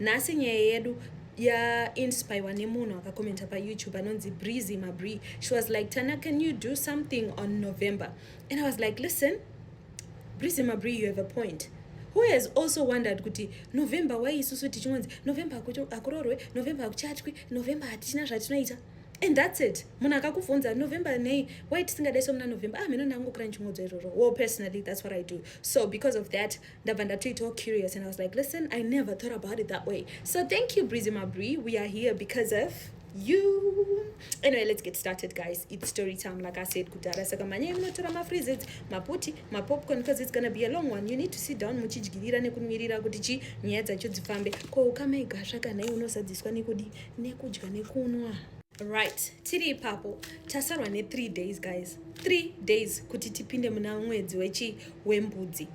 nhasi nyaya yedu yainspirwa nemunhu akakomenta payoutube anonzi breezy mabree she was like tana can you do something on november and i was like listen breezy mabree you have a point who has also wondered kuti november why isusu tichingonzi november hakuroorwe november hakuchatwi november hatichina zvatinoita and that's it munhu akakubvunza november nei why tisingadaiswa muna november ah mheno ndangokura ndichingudza izvozvo well personally that's what i do so because of that ndabva ndatoitawo curious and i was like listen i never thought about it that way so thank you breezy mabri we are here because of you anyway let's get started guys it's story time like i said kudhara saka manyai munotora mafreezes maputi mapopcorn because it's gonna be a long one you need to sit down muchidyirira nekumirira kuti chi nyaya dzacho dzifambe ko ukama igasva kana iwe unozadziswa nekudi nekudya nekunwa right tiri ipapo tasarwa ne3 days guys 3 days kuti tipinde muna mwedzi wechi wembudzi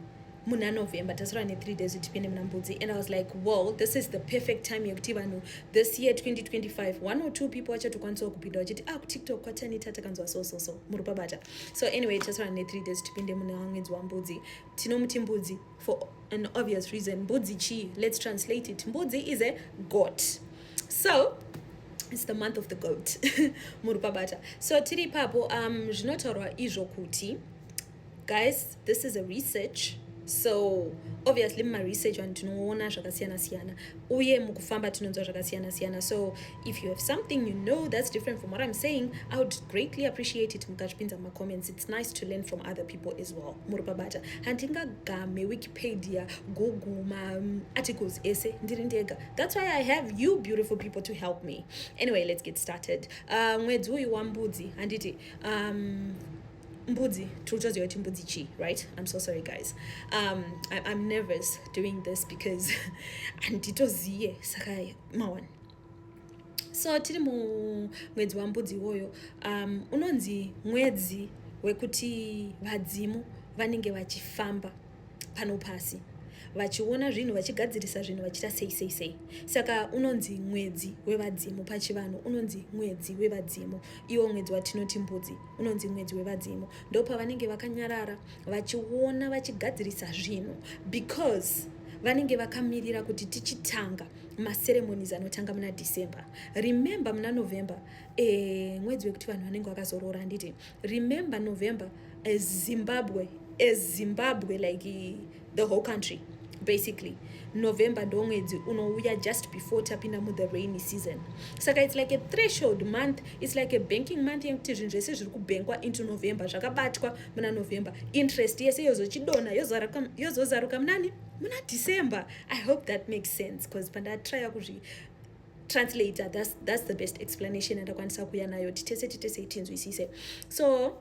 muna november tasora ne3 days kuti tipinde muna mbudzi and i was like well this is the perfect time yekuti vanhu this year 2025 one or two people vachatokwanisawo kupinda vachiti ah kutiktok kwatanita takanzwa so so so muri pabata so anyway tasora ne3 days tipinde muna mwedzi wambudzi tinomuti mbudzi for an obvious reason mbudzi chii let's translate it mbudzi is a goat so it's the month of the goat muri pabata so tiri ipapo um zvinotaurwa izvo kuti guys this is a research so obviously mumaresearch vanhu tinoona zvakasiyana siyana uye mukufamba tinonzwa zvakasiyana siyana so if you have something you know that's different from what i'm saying i would greatly appreciate it mukazvipinza mumacomments it's nice to learn from other people as well muri pabata handingagame wikipedia google maarticles um, ese ndiri ndega that's why i have you beautiful people to help me anyway let's get started uh, mwedzi uyu wambudzi handiti um, mbudzi tiri kuti mbudzi chii right i'm so sorry guys um, I, i'm nervous doing this because handitoziye saka mawan so tiri mumwedzi wambudzi iwoyo um, unonzi mwedzi wekuti vadzimu vanenge vachifamba pano pasi vachiona zvinhu vachigadzirisa zvinhu vachita sei sei sei saka unonzi mwedzi wevadzimu pachivanhu unonzi mwedzi wevadzimu iwo mwedzi watinoti mbudzi unonzi mwedzi wevadzimu ndopavanenge vakanyarara vachiona vachigadzirisa zvinhu because vanenge vakamirira kuti tichitanga maceremonies anotanga muna december remember muna november e, mwedzi wekuti vanhu vanenge vakazoroora handiti remember november as zimbabwe as zimbabwe like the whole country basically november ndo mwedzi unouya just before tapinda muthe rainy season saka its like a threshold month its like a banking month yekuti zvinhu zvese zviri kubhenkwa into november zvakabatwa muna november interest yese yozochidona yozozaruka munani muna december i hope that makes sense bcause pandatraya kuzvi translator that's, that's the best explanation yandakwanisa kuya nayo titese titese tinzwisise so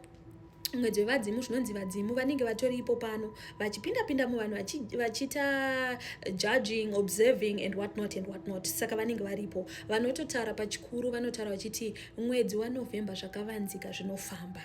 mwedzi wevadzimu zvinonzi vadzimu vanenge vatoripo pano vachipinda pinda muvanhu vachiita judging observing and what not and what not saka vanenge varipo vanototaura pachikuru vanotaura vachiti mwedzi wanovhemba zvakavanzika zvinofamba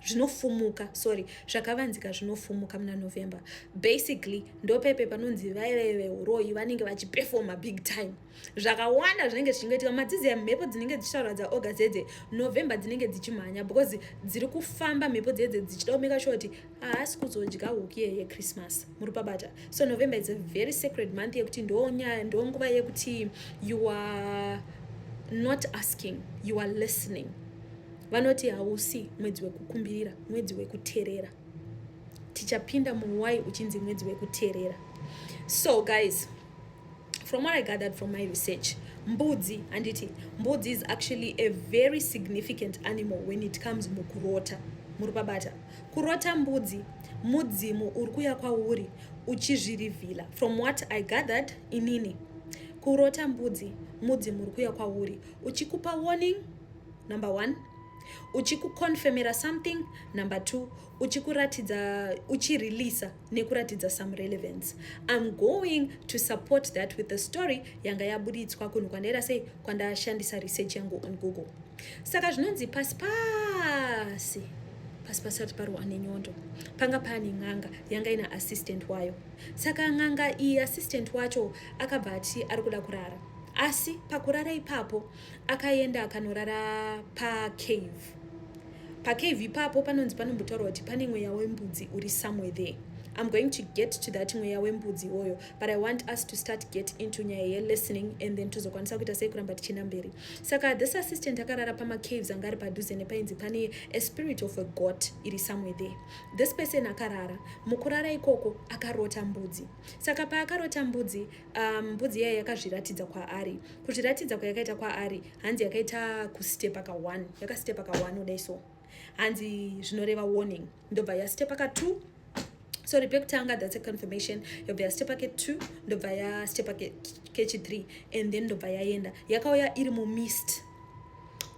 zvinofumuka sorry zvakavanzika zvinofumuka muna november basically ndopepe panonzi vaive veuroyi vanenge vachipefoma big time zvakawanda zvinenge zvichingoitika madzizi emhepo dzinenge dzichitaura dzaoga dzedze november dzinenge dzichimhanya because dziri kufamba mhepo dzedze dzichida kumeka sure kuti haasi kuzodya huku iye yechristmas muri pabata so november is a very sacred month yekuti ndonyaya ndonguva yekuti you are not asking you are listening Vanoti hausi mwedzi wekukumbirira, mwedzi wekuterera. Tichapinda muwai uchinzi mwedzi wekuterera. So guys, from what I gathered from my research, mbudzi handiti mbudzi is actually a very significant animal when it comes mukurota muri pabata kurota mbudzi mudzimu uri kuya kwauri uchizvirivhila from what i gathered inini kurota mbudzi mudzimu uri kuya kwauri uchikupa warning number one uchikuconfirmira something number two uchikuratidza uchireleasa nekuratidza some relevance im going to support that with the story yanga yaburitswa kunhu kwandaira sei kwandashandisa research yangu on google saka zvinonzi pasi pasi pasi pasati parwa nenyondo panga paane n'anga yanga ina assistant wayo saka n'anga iyi assistant wacho akabva ati ari kuda kurara asi pakurara ipapo Akaenda akanorara pacave. Pacave ipapo panonzi panombotaurwa kuti pane mweya wembudzi uri somewhere there. I'm going to get to that mweya wembudzi iwoyo but I want us to start get into nyaya yelistening and then tozokwanisa kuita sei kuramba tichienda mberi. Saka this assistant akarara pamacaves anga ari padhuze nepainzi pane a spirit of a god iri somewhere there. This person akarara. Mukurara ikoko akarota mbudzi. Saka paakarota mbudzi Um, mbudzi iyayo yakazviratidza kwaari kuzviratidza kwayakaita kwaari hanzi yakaita kustepa ka one yakastepa ka one udai so hanzi zvinoreva warning ndobva yastepa ka two sorry pekutanga that's a confirmation yobva yastepa ke two ndobva yastepa kechi three and then ndobva yaenda yakauya iri mumist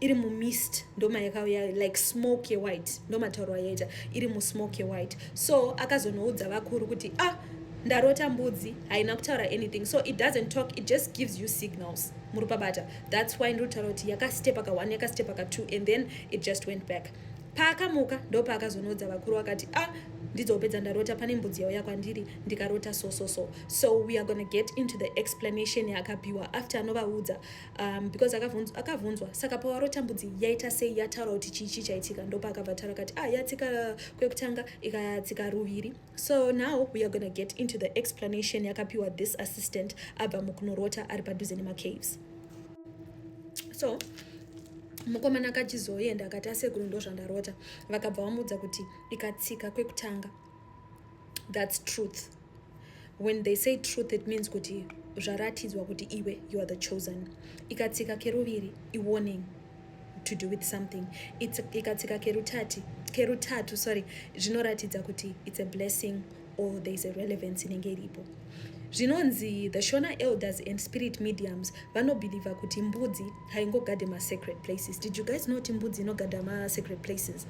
iri mumist ndoma yakauya like smoke yewhite ndomatauro ayaita iri musmoke yewhite so akazonoudza vakuru kuti ah ndarota mbudzi haina kutaura anything so it doesn't talk it just gives you signals muri pabata that's why ndiri kutaura kuti yakastepa ka one yakastepa ka two and then it just went back paakamuka ndopaakazonoudza vakuru akati ah ndidzopedza ndarota pane mbudzi yauya kwandiri ndikarota so so so so we are gonna get into the explanation yaakapiwa after anovaudza um, because akavhunzwa akavhunzwa saka pawaro tambudzi yaita sei yataura kuti chii chii chaitika ndopa akabva taura kati ah yatsika kwekutanga ikatsika ruviri so now we are gonna get into the explanation yakapiwa this assistant abva mukunorota ari padhuze nemacaves so mukomana akachizoenda akati asekuru ndozvandarota vakabva vamuudza kuti ikatsika kwekutanga thats truth when they say truth it means kuti zvaratidzwa kuti iwe you are the chosen ikatsika keruviri iwarning to do with something ikatsika kerutati kerutatu sorry zvinoratidza kuti it's a blessing or there is a relevance inenge iripo zvinonzi the shona elders and spirit mediums vanobhilivha kuti mbudzi haingogade masecret places did you guys know kuti mbudzi inogada masecret places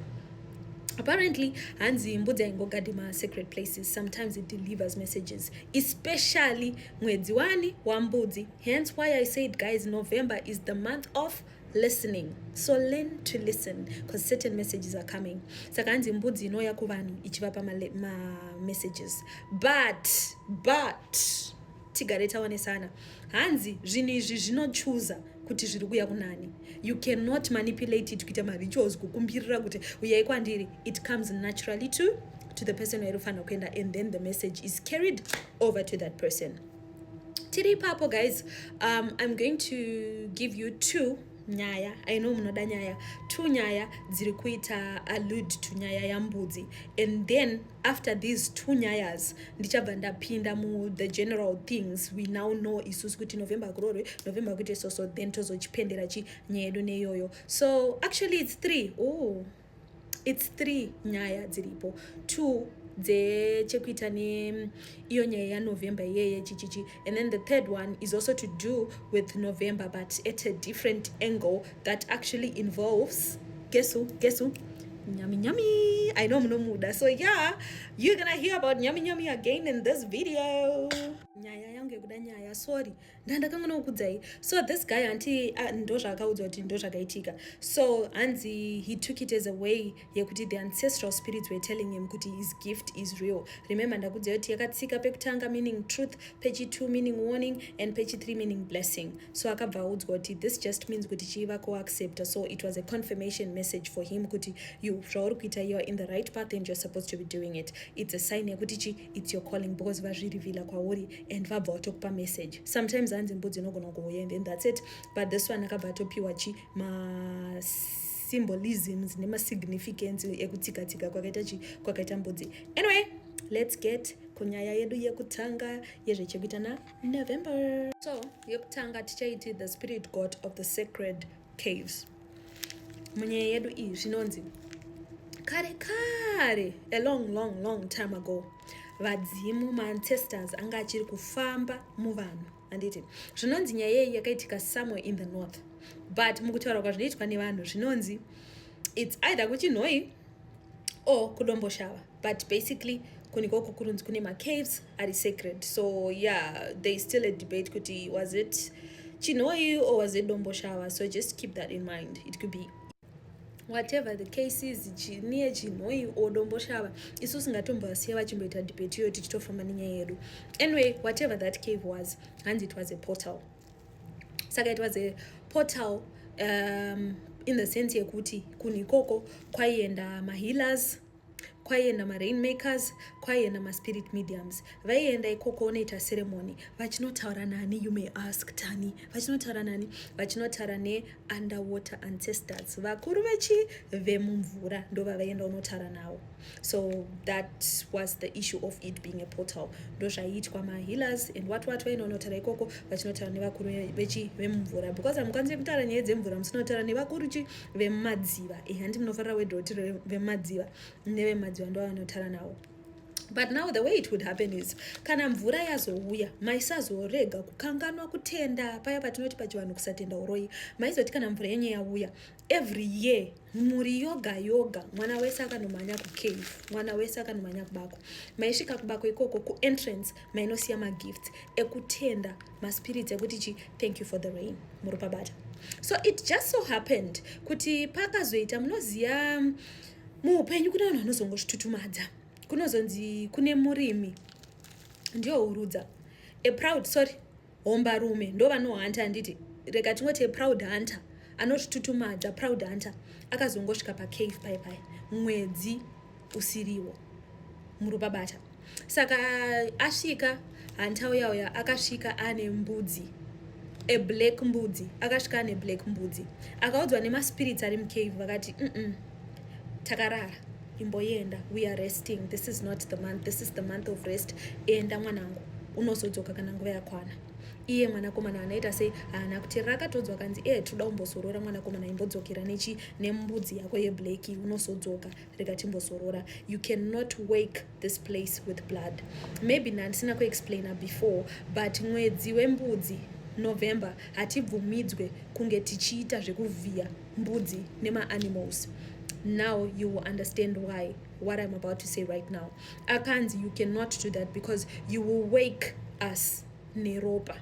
apparently hanzi mbudzi haingogade masecret places sometimes it delivers messages especially mwedzi wani wambudzi hence why i said guys november is the month of listening so learn to listen because certain messages are coming saka hanzi mbudzi inouya kuvanhu ichivapa mamessages ma but but tigare taonesana hanzi zvinhu izvi zvinochuza kuti zviri kuya kunani you cannot manipulate it kuita marituals kukumbirira kuti uyai kwandiri it comes naturally to to the person wairi kufanira kuenda and then the message is carried over to that person tiri ipapo guys um, i'm going to give you two nyaya i know munoda nyaya two nyaya dziri kuita allude to nyaya yambudzi and then after these two nyayas ndichabva ndapinda mu the general things we now know isusu kuti november kurorwe november kuite so so then tozochipendera chi nyaya yedu neyoyo so actually it's three oh it's three nyaya dziripo two dzechekuita neiyo nyaya yanovember iyeye chichichi And then the third one is also to do with November, but at a different angle that actually involves, guess who, guess who? Nyami Nyami. I know Munomuda. So yeah, you're gonna hear about Nyami Nyami again in this video. nyaya yangu yekuda nyaya sorry ndandakanga nokukudzai so this guy hanti ndozvaakaudzwa kuti ndozvakaitika so hanzi he took it as a way yekuti the ancestral spirits were telling him kuti his gift is real remember ndakudzai kuti yakatsika pekutanga meaning truth pechi2 meaning warning and pechi3 meaning blessing so akabva audzwa kuti this just means kuti chiiva kuaccepta so it was a confirmation message for him kuti you zvauri kuita youare in the right path and you're supposed to be doing it it's a sign yekuti chi it's your calling because vazvirivhila kwauri and vabva vatokupa message sometimes hanzi mbudzi inogona kuuya and then that's it but this one akabva atopiwa chi ma symbolisms nemasignificance ekutsika tsika kwakaita chi kwakaita mbudzi anyway let's get kunyaya yedu yekutanga yezvechekuita na november so yekutanga tichaiti the spirit god of the sacred caves munyaya yedu iyi zvinonzi kare kare a long long long time ago vadzimu maancestors anga achiri kufamba muvanhu handiti zvinonzi nyaya yeyi yakaitika somewhere in the north but mukutaura kwazvinoitwa nevanhu zvinonzi its either kuchinhoi or kudomboshava but basically kunikoku kurunzi kune macaves ari sacred so yeah there is still a debate kuti was it chinhoi or was it domboshava so just keep that in mind it could be whatever the case is chiniye chinhoi odomboshava isu singatombovasiya vachimboita debate iyoyo tichitofamba nenyaya yedu anyway whatever that cave was hanzi it was a portal saka it was a portal um, in the sense yekuti kunhu ikoko kwaienda mahealers kwaienda marainmakers kwaienda maspirit mediums vaienda ikoko unoita ceremony vachinotaura nani you may ask tani vachinotaura nani vachinotaura neunderwater ancestors vakuru vechi vemumvura ndovavaienda unotaura navo so that was the issue of it being a portal ndozvaiitwa mahealers and what what vaenda unotaura ikoko vachinotaura nevakuru vechi vemumvura because hamukwanisi kutaura nyaya dzemvura musinotaura nevakuru chi vemumadziva e handi munofarira word roti vemumadziva nevemadziva ndo vanotara nawo but now the way it would happen is kana mvura yazouya maisazorega kukanganwa kutenda paya patinoti pachivanhu kusatenda uroyi maizoti kana mvura yenye yauya every year mhuri yoga yoga mwana wese akanomhanya kucave mwana wese akanomhanya kubako maisvika kubako ikoko kuentrance mainosiya magifts ekutenda maspirit ekuti chi thank you for the rain muri pabata so it just so happened kuti pakazoita munoziva mm, muupenyu kune vanhu vanozongozvitutumadza kunozonzi kune murimi ndiyo urudza a proud sorry homba rume ndo vanohanta handiti rega tingoti a proud hunter anozvitutumadza proud hunter akazongosvika pacave pai pai mwedzi usiriwo muruba bata saka asvika hantauya uya akasvika ane mbudzi a black mbudzi akasvika ane black mbudzi akaudzwa nemaspirits ari mucave vakati mm -mm, takarara imboyenda we are resting this is not the month this is the month of rest enda mwanangu unozodzoka kana nguva yakwana iye mwanakomana anoita sei haana kuti rakatodzwa kanzi ee eh, toda kumbozorora mwanakomana imbodzokera nechi nembudzi yako yeblack unozodzoka rega timbozorora you cannot wake this place with blood maybe nandisina kuexplaina before but mwedzi wembudzi november hatibvumidzwe kunge tichiita zvekuvhiya mbudzi nemaanimals now you will understand why what i'm about to say right now akanzi you cannot do that because you will wake us neropa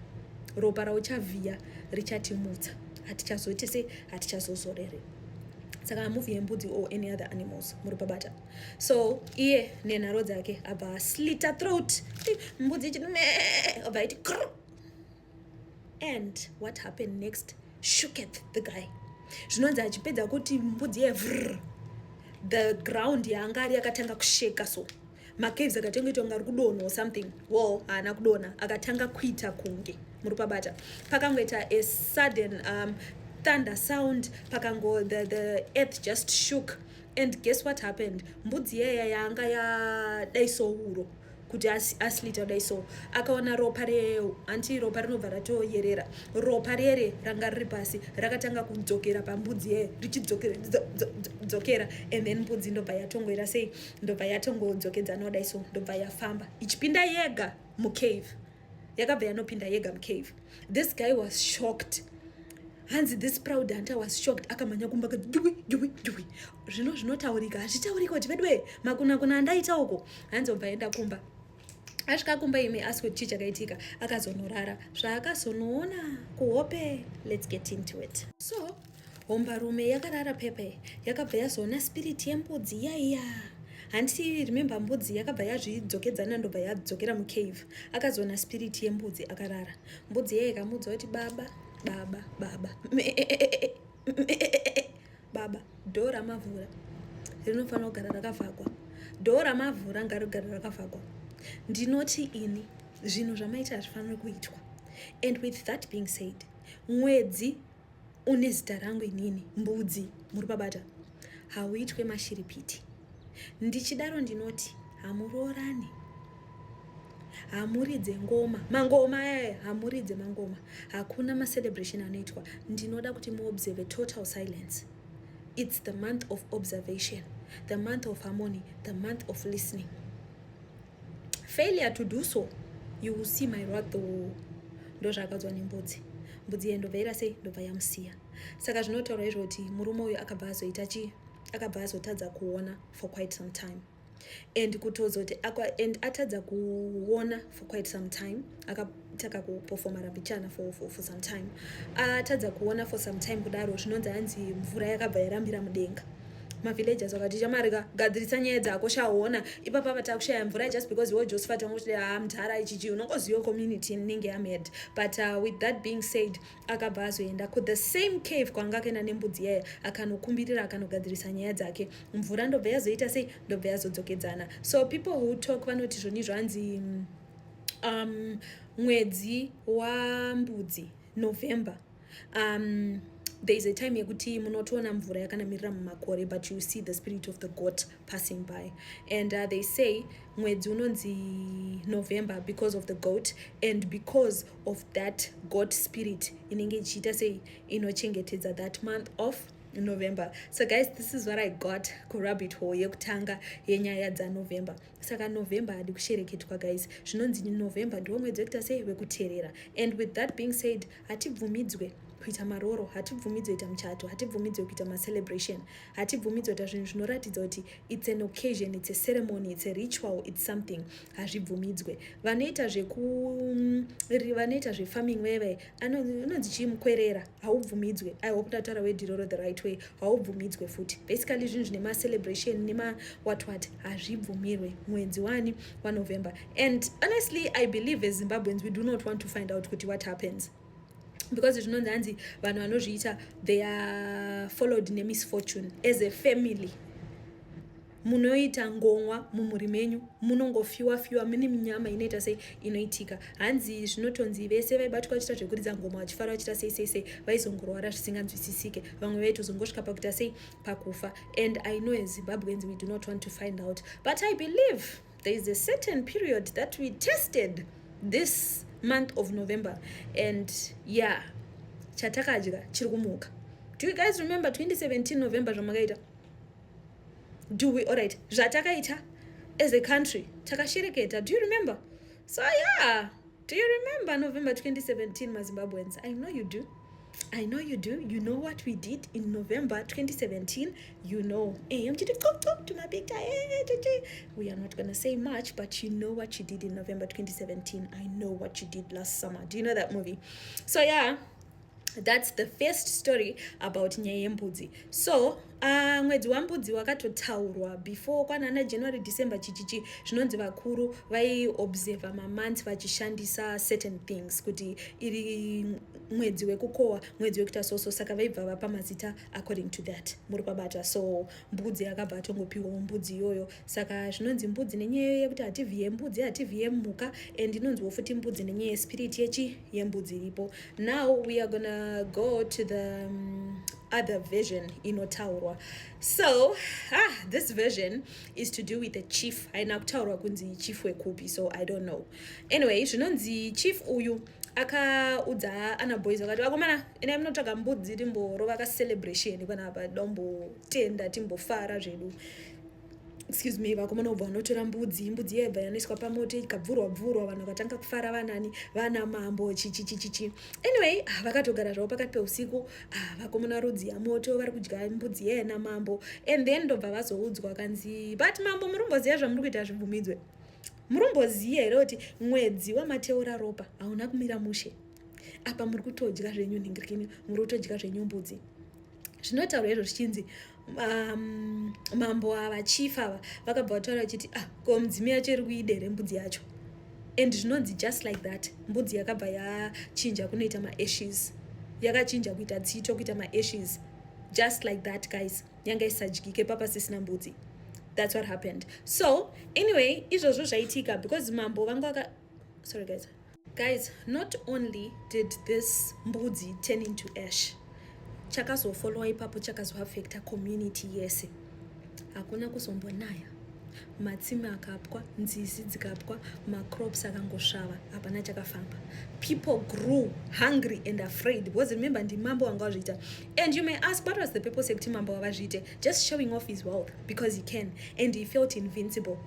ropa rauchavhiya richatimutsa hatichazoite sei hatichazozorere saka muvi yembudzi or any other animals muri pabata so iye nenharo dzake abva aslita throat mbudzi ichiti me abva iti kr and what happened next shooketh the guy zvinonzi achipedza kuti mbudzi ye vrr the ground yaanga ari yakatanga kusheka so macaves akatanga ita kunge ari kudonha or something wall haana kudonha akatanga kuita kunge muri pabata pakangoita a sudden um, thunder sound pakango the, the earth just shook and guess what happened mbudzi yeya yanga yadai souro kuti aslita dai so akaona ropa reo hanti ropa rinobva ratoyerera ropa rere ranga riri pasi rakatanga kudzokera pambudzi yeye richidzokera and then mbudzi ndobva yatongoera sei ndobva yatongodzokedzana kudai so ndobva yafamba ichipinda yega mucave yakabva yanopinda yega mucave this guy was shocked hanzi this proud hunter was shocked akamhanya kumba kati jui jui jui zvino zvinotaurika hazvitaurika kuti veduwe makunakuna andaita uko hanzi obva aenda kumba asvika kumba imi asi kuti chii chakaitika akazonorara zvaakazonoona kuhope let's get into it so hombarume yakarara pepe yakabva yazoona spiriti yembudzi yaiya handiti remembe mbudzi yakabva yazvidzokedzana ndobva yadzokera mucave akazoona spiriti yembudzi akarara mbudzi yaye ikamudza kuti baba baba baba baba dho ramavhura rinofanira kugara rakavhagwa dho ramavhura ngarigara rakavhagwa ndinoti ini zvinhu zvamaita hazvifaniri kuitwa and with that being said mwedzi Une zita rangu inini mbudzi muri babata hauitwe mashiripiti ndichidaro ndinoti hamuroorane hamuridze ngoma mangoma ayaye eh, hamuridze mangoma hakuna macelebration anoitwa ndinoda kuti muobserve total silence its the month of observation the month of harmony the month of listening failure to do so you will see my wrath ndozvaakadzwa nembudzi mbudzi iye ndobva ira sei ndobva yamusiya saka zvinotaura izvo kuti murume uyu akabva azoita chii akabva azotadza kuona for quite some time and kutozoti and atadza kuona for quite some time aka takakupofomarambi chana for, for, for some time atadza ah, uh, kuona for some time kudaro zvinonzi anzi mvura yakabva yarambira mudenga mavillagers vakati chamari ka gadzirisa nyaya dzako shaona ipapa vatakushaya mvura just because iwo josephat wanga uchiti ha ah, mdhara ichichi unongoziva community inenge yamed but uh, with that being said akabva azoenda ku the same cave kwanga akaenda nembudzi yaya akanokumbirira akanogadzirisa nyaya dzake mvura ndobva yazoita sei ndobva yazodzokedzana so people who talk vanoti zvoni zvanzi mm, um, mwedzi wambudzi november um, there is a time yekuti munotoona mvura yakanamirira mumakore but you see the spirit of the goat passing by and uh, they say mwedzi unonzi november because of the goat and because of that goat spirit inenge ichiita sei inochengetedza that month of november so guys this is what i got kurabit hall yekutanga yenyaya dzanovember saka november hadi kushereketwa guys zvinonzi november ndiwo mwedzi wekuita sei wekuteerera and with that being said hatibvumidzwe kuita maroro hatibvumidzwe kuita muchato hatibvumidzwe kuita macelebration hatibvumidzwe kuita zvinhu zvinoratidza kuti its an occasion its a ceremony its a ritual its something hazvibvumidzwe vanoita zvekuvanoita zvefarming veve anonzi chii mukwerera haubvumidzwe i hope ndataura wediroro the right way haubvumidzwe futi basically zvinhu zvine macelebration nemawatwat hazvibvumirwe mwedzi wani wanovember and honestly i believe as zimbabweans we do not want to find out kuti what happens because zvinonzi hanzi vanhu vanozviita they are followed nemisfortune as a family munoita ngomwa mumhuri menyu munongofiwa fiwa mune minyama inoita sei inoitika hanzi zvinotonzi vese vaibatwa vachita zvekuridza ngoma vachifara vachita sei sei sei vaizongorwara zvisinganzwisisike vamwe vaitozongosvika pakuita sei pakufa and i know as zimbabweans we do not want to find out but i believe there is a certain period that we tested this month of november and yeah chatakadya chiri kumuka do you guys remember 2017 november zvamakaita do we alright zvatakaita as a country takashereketa do you remember so yeah do you remember november 2017 mazimbabweans i know you do i know you do you know what we did in november 2017 you know eh, eh, we are not gonna say much but you know what you did in november 2017 i know what you did last summer do you know that movie so yeah thats the first story about nyaya yembudzi so uh, mwedzi wambudzi wakatotaurwa before kwanana january december chichichi zvinonzi vakuru vaiobserva mamonths vachishandisa certain things kuti iri mwedzi wekukohwa mwedzi wekuita soso saka vaibva vapa mazita according to that muri kwabata so mbudzi yakabva atongopiwawo mbudzi iyoyo Saka zvinonzi mbudzi nenyaya yekuti hativhiye mbudzi hativhiye mhuka and inonziwo futi mbudzi nenyaya yespirit yechi yembudzi iripo. Now we are gonna go to the um, other version inotaurwa. So ah, this version is to do with the chief. Haina kutaurwa kunzi chief wekupi so I don't know. Anyway, zvinonzi chief uyu akaudza ana boys akati vakomana ina munotsvaga mbudzi timborova ka celebration panapa timbotenda timbofara zvedu excuse me vakomana ubva vanotora mbudzi mbudzi iya ibva yanoiswa pamoto ikabvurwa bvurwa vanhu vakatanga kufara vanani vana mambo chichichichichi anyway ah, vakatogara zvavo pakati peusiku ah, vakomana rudzi yamoto vari kudya mbudzi iya yana mambo and then ndobva vazoudzwa kanzi but mambo murumboziva zvamuri kuita zvibvumidzwe murumboziva here kuti mwedzi wamateura ropa hauna kumira mushe apa muri kutodya zvenyu nhingirikini muri kutodya zvenyu mbudzi zvinotaurwa izvo zvichinzi um, mambo ava chief ava vakabva vataura vachiti ah, ko mudzimi yacho iri kuida here mbudzi yacho and zvinonzi just like that mbudzi yakabva yachinja kunoita maashes yakachinja kuita tsito kuita maashes just like that guys yanga isadyike papa sisina mbudzi that's what happened so anyway izvozvo zvaitika because mambo vanga sorry guys Guys, not only did this mbudzi turn into ash, chakazofollowa ipapo chakazoaffecta community yese. Hakuna kuzombonaya, matsime akapwa, nzizi dzikapwa, macrops akangosvava, hapana chakafamba. People grew hungry and afraid because remember ndimambo wanga wazviita. And you may ask what was the purpose yekuti mambo wavazviite? Just showing off his wealth because he can and he felt invincible.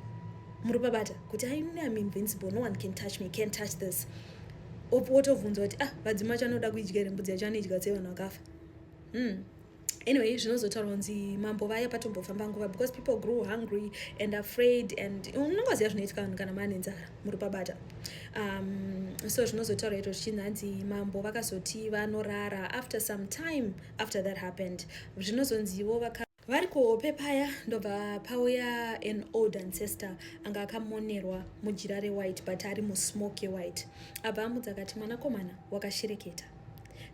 muri pabata kuti ainini am invincible no one can touch me can touch this wotovhunza kuti ah vadzima vacho anoda kuidya here mbudzi yacho anoidya tsei vanhu vakafa hmm. anyway zvinozotaura kunzi mambo vaya patombofamba nguva because people grew hungry and afraid and unongoziva zvinoitika vanhu kana maane nzara muri pabata um, so zvinozotaura ito zvichinzi hanzi mambo vakazoti vanorara after some time after that happened zvinozonzivo vaka vari kuhope paya ndobva pauya an old ancestor anga akamonerwa mujira rewhite but ari musmoke yewhite abva amudza akati mwanakomana wakashereketa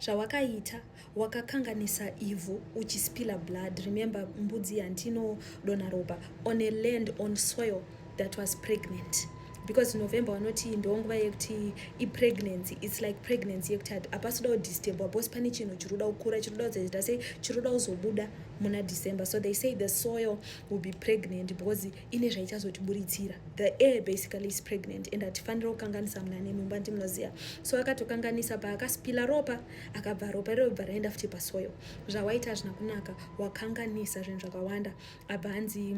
zvawakaita wakakanganisa ivhu uchispiller blood remember mbudzi yandinodona ropa on a land on soil that was pregnant because november vanoti ndonguva yekuti ipregnancy its like pregnancy yekuti hapasida kudisturbwa bcause pane chinhu chiri kuda kukura chiri kuda kuzaita sei chiri kuda kuzobuda muna december so they say the soil will be pregnant because ine zvaichazotiburitsira the air basically is pregnant and hatifanira kukanganisa muna nemumba ndimunoziva so akatokanganisa paakaspila ropa akabva ropa irobva raenda futi pasoil zvawaita hazvina kunaka wakanganisa zvinhu zvakawanda abva hanzi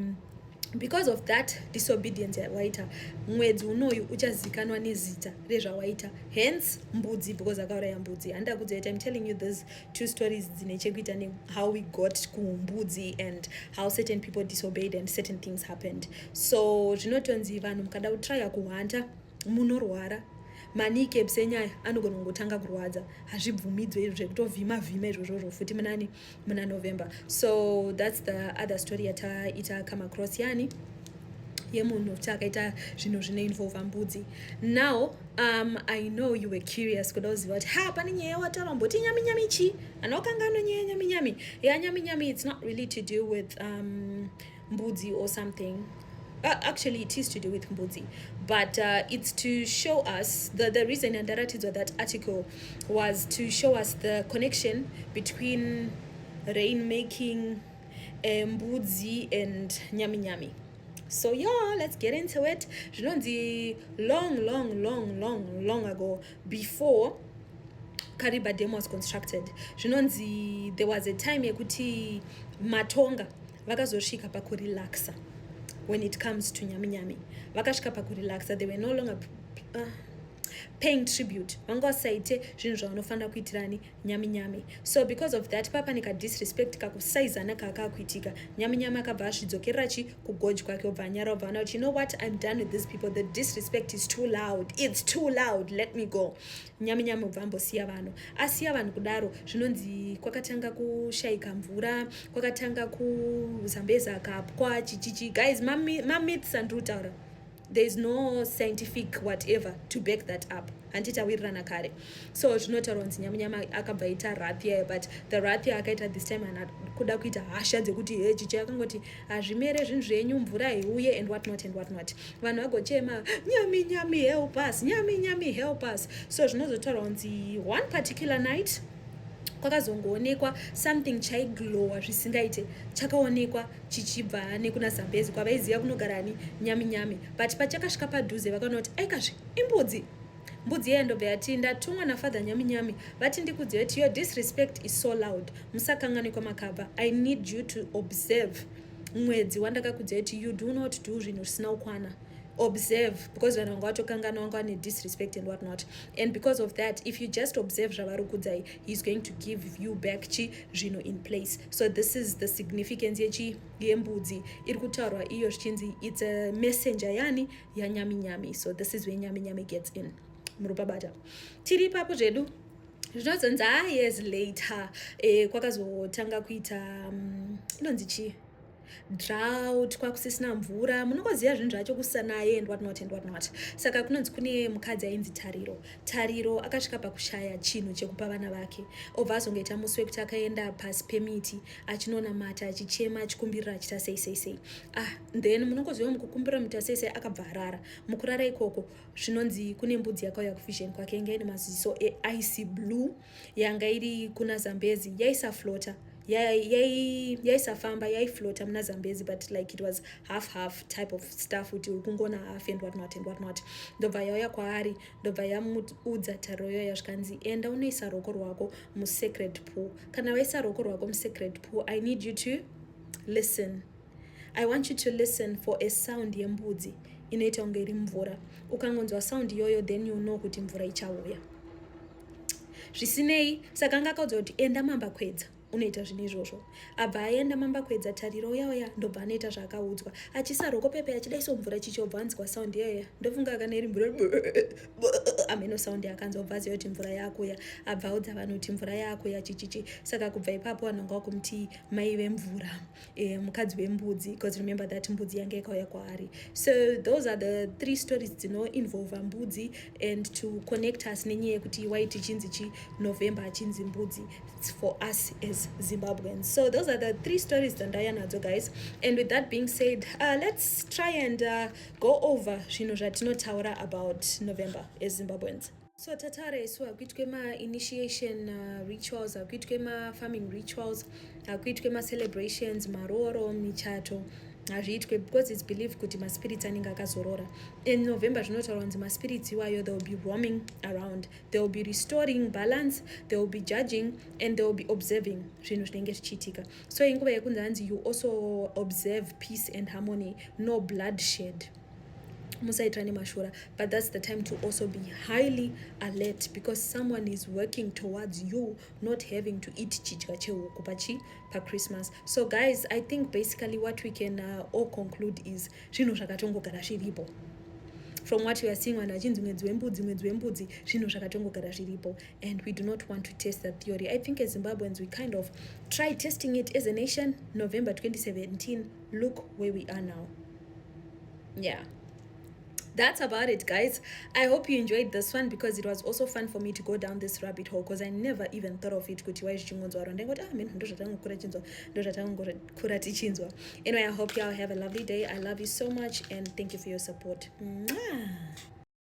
because of that disobedience yawaita mwedzi unoyu uchazikanwa nezita rezvawaita hence mbudzi because akauraya mbudzi handida kudzoita im telling you these two stories dzine chekuita nehow we got kumbudzi and how certain people disobeyed and certain things happened so zvinotonzi vanhu mukada kutrya kuhwanta munorwara manike bsenyaya anogona kungotanga kurwadza hazvibvumidzwe izvo zvekutovhima vhima izvozvozvo futi munani muna november so thats the other story yataita come across yani yemunhu kuti akaita zvinhu zvinoinvolva mbudzi now um, i know you were curious kuda kuziva kuti ha pane nyaya wataura mboti nyaminyami chii ana wakanga anonyaya nyaminyami ya nyaminyami it's not really to do with um, mbudzi or something Uh, actually it is to do with mbudzi but uh, it's to show us the, the reason and ndaratidzwa that article was to show us the connection between rain making eh, mbudzi and nyami nyami so yeah let's get into it zvinonzi long long long long long ago before kariba dam was constructed zvinonzi there was a time yekuti matonga vakazosvika pakurelaxa when it comes to nyami nyami vakasvika pakurelaxa they were no longer uh, paying tribute vanga vasaite zvinhu zvavanofanira kuitirani nyami nyami so because of that papa nika disrespect kakusaizana kakakuitika nyami nyami akabva asvidzokerera chi kugoji kwake obva anyara obva ana kuti you know what i'm done with these people the disrespect is too loud it's too loud let me go Nyami nyami ubva ambosiya vanhu asiya vanhu kudaro zvinonzi kwakatanga kushaika mvura kwakatanga kuzambeza kapwa chichichi guys mamyths andiri kutaura there is no scientific whatever to back that up handiti awirirana kare so zvinotaura kunzi nyamunyama akabva aita rathia but the rathia akaita this time ana kuda kuita hasha dzekuti he chichi akangoti hazvimere zvinhu zvenyu mvura heuye and what not and what not vanhu vagochema nyami nyami help us nyami nyami help us so zvinozotaura kunzi one particular night kwakazongoonekwa something chaiglowa zvisingaite chakaonekwa chichibva nekuna zambezi kwavaiziva kunogara ni nyami nyami but pachakasvika padhuze vakaona kuti aikazve imbudzi mbudzi yeye ndobva yati ndatumwa nafather nyami nyami vati ndikudziva kuti your disrespect is so loud musakanganwe kwamakabva i need you to observe mwedzi wandakakudzai kuti you do not do zvinhu zvisina kukwana observe because vanhu vanga vatokangana vanga vane disrespect and what not and because of that if you just observe zvavari kudzai heis going to give you back chi zvino in place so this is the significance yechi yembudzi iri kutaurwa iyo zvichinzi its a messenger yani yanyaminyami so this is where nyaminyami gets in muri pabata tiri ipapo zvedu zvinozonzi ah yes later eh, kwakazotanga kuita mm, inonzi um, chii drought kwakusisina mvura munongoziva zvinhu zvacho kusanaye and whatnot and whatnot saka kunonzi kune mukadzi ainzi tariro tariro akasvika pakushaya chinhu chekupa vana vake obva azongoita musi wekuti akaenda pasi pemiti achinonamata achichema achikumbirira achita sei sei sei ah then munongoziva mukukumbirira muita sei sei akabva arara mukurara ikoko zvinonzi kune mbudzi yakauya kuvision kwake yanga ine maziso eice blue yanga iri kuna zambezi yaisaflota yaisafamba yaiflota muna zambezi but like it was half half type of stuff kuti uri kungona half and whatnot and whatnot ndobva yauya kwaari ndobva yamuudza taroyo yazvikanzi enda unoisa roko rwako musecret pool kana waisa roko rwako musecret pool i need you to listen I want you to listen for a sound yembudzi inoita kunge iri mvura ukangonzwa sound iyoyo then you know kuti mvura ichauya zvisinei saka anga akaudza kuti enda mamba kwedza unoita zvinhu izvozvo abva aenda mamba kwedza tariro uyauya ndobva anoita zvaakaudzwa achisaroko pepe achida iso mvura chichobva anzwa sound yaya ndofunga kana iri mvura ameno sound akanzwa bva aziva kuti mvura yaakuya abva audza vanhu kuti mvura yaakuya chichichi saka kubva ipapo vanhu anga wakumuti mai vemvura Eh, mukadzi wembudzi because remember that mbudzi yange yakauya kwaari so those are the three stories dzinoinvolva mbudzi and to connect us nenyaya yekuti why tichinzi chi november achinzi mbudzi its for us as zimbabweans so those are the three stories dzandauya nadzo guys and with that being said uh, let's try and uh, go over zvinhu zvatinotaura about november as zimbabweans so tataura isu hakuitwe mainitiation uh, rituals hakuitwe mafarming rituals hakuitwe macelebrations marooro michato hazviitwe because its believe kuti maspirits anenge akazorora in november zvinotaura kunzi maspirits iwayo they will be roaming around they will be restoring balance they will be judging and they will be observing zvinhu zvinenge zvichiitika so inguva yekunzi hanzi you also observe peace and harmony no bloodshed musaitirane mashura but that's the time to also be highly alert because someone is working towards you not having to eat chidya chehuku pachi pachristmas so guys i think basically what we can uh, all conclude is zvinhu zvakatongogara zviripo from what you are seeing vanhu vachinzi mwedzi wembudzi mwedzi wembudzi zvinhu zvakatongogara zviripo and we do not want to test that theory i think as zimbabweans we kind of try testing it as a nation november 2017 look where we are now yeah that's about it guys i hope you enjoyed this one because it was also fun for me to go down this rabbit hole because i never even thought of it kuti wai zvichingonzwa ro ndaingoti ah meno ndozvatangokura chinzwa ndozvatangokura tichinzwa anyway i hope you all have a lovely day i love you so much and thank you for your support Mwah!